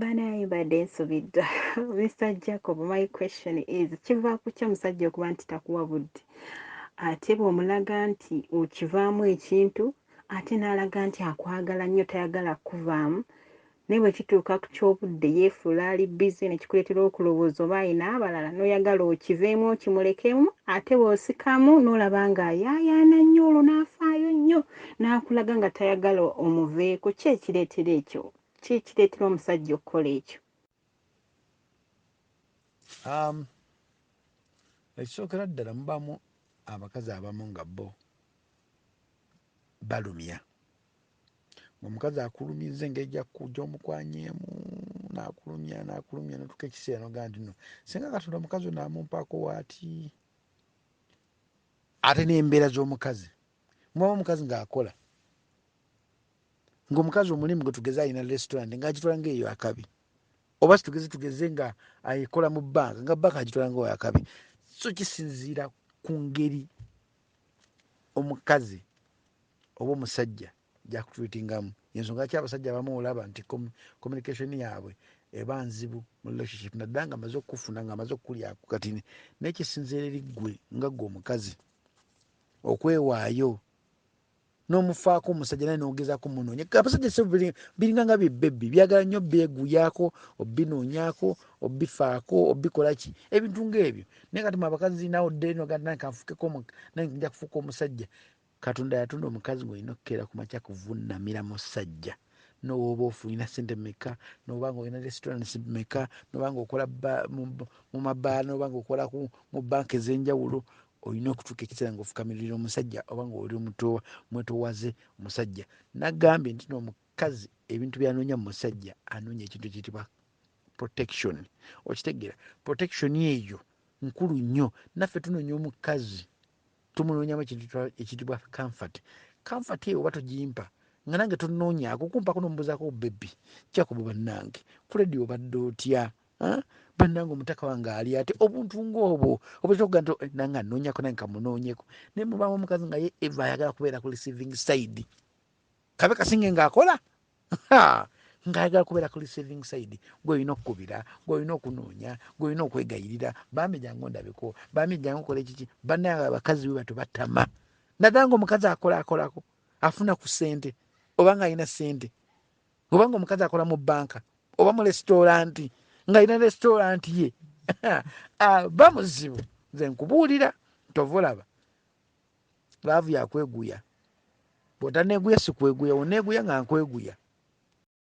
banaye mbadde nsubidda mr jacob my question is kiva ku ki omusajja okuba nti takuwa budde ate bwomulaga nti okivaamu ekintu ate n'alaga nti akwagala nnyo tayagala kukuvaamu naye bwe kituuka ku ky'obudde yeefuula ali bize ne kikuleetera okulowooza oba alina abalala n'oyagala okiveemu okimulekemu ate bw'osikamu n'olaba ng'ayaayaana nnyo olwo n'afaayo nnyo n'akulaga nga tayagala omuveeko, ki ekireetera ekyo? Ki ekireetera omusajja okukola ekyo? Um, ekisookera ddala mubamu abakazi abamu nga bo balumya omukazi akulumya nze engeri gyomukwanyeemu nakulumya nakulumya natuka ekiseera noga nti no singa katonda omukazi onamumpako waati ate nembeera zomukazi mwawo omukazi ng'akola ng'omukazi omulimu gwe tugeze alina restaurant ng'agitwala ng'eyo akabi oba situgeze tugeze nga ayekola mu banka nga banka agitwala nga wakabi so kisinziira ku ngeri omukazi oba omusajja gyakutuitingamu yensonga ki abasajja abamu olaba nti communication yaabwe eba nzibu mu relationship naddala nga amaze okukufuna nga amaze okukulyaku kati naye kisinziira eri ggwe nga ggwe omukazi okwewaayo nomufaako omusajja naye nogezako munonye abasajja se biringa nga byebebi byagala nyo byeguyaako obinonyako obifaako obikolaki ebintu ngaebyo naye kati mwe abakazi nawe oddenoganakanfukeko naye nja kufuuka omusajja katonda yatonda omukazi ngaolina okukeera kumakya kuvunamira musajja nowooba ofunina sente meka noba nga olina restaurants meka noba nga okola mu mabaala noba nga okola mu banka ezenjawulo olina okutuuka ekiseera ngaofukamiririra omusajja oba nga oli omwetowaze omusajja nagambye nti no omukazi ebintu byanoonya mu musajja anoonya ekintu ekiyitibwa protection okitegeera protection eyo nkulu nnyo naffe tunoonya omukazi tumunoonyamu ekintu ekiyitibwa comfort comfort eyo oba togimpa nga nange tonoonyaako kumpako nomubuzaako bebi kyakuba bannange kuledi obadde otya bannange omutaka wange ali ate obuntu ngaobwo obutera okuga nti eh, nange anoonyako nange kamunoonyeko naye mubanga omukazi nga ye eva ayagala kubeera ku receiving side kabe kasinge ngaakola ngaayagala kubeera ku receiving side gweolina okukubira gweolina okunoonya gweolina okwegayirira bambi jangu ndabeko bambi jangu kola ekiki bannange abakazi bwe batyo batama nadala nga omukazi akolakolako afuna ku sente oba nga alina sente oba nga omukazi akola mu banka oba mu lesitolanti ngaalina lesitolanti ye ah, ba muzibu nze nkubuulira tova olaba laavu yakweguya bwotaneguya sikweguya oneguya nga nkweguya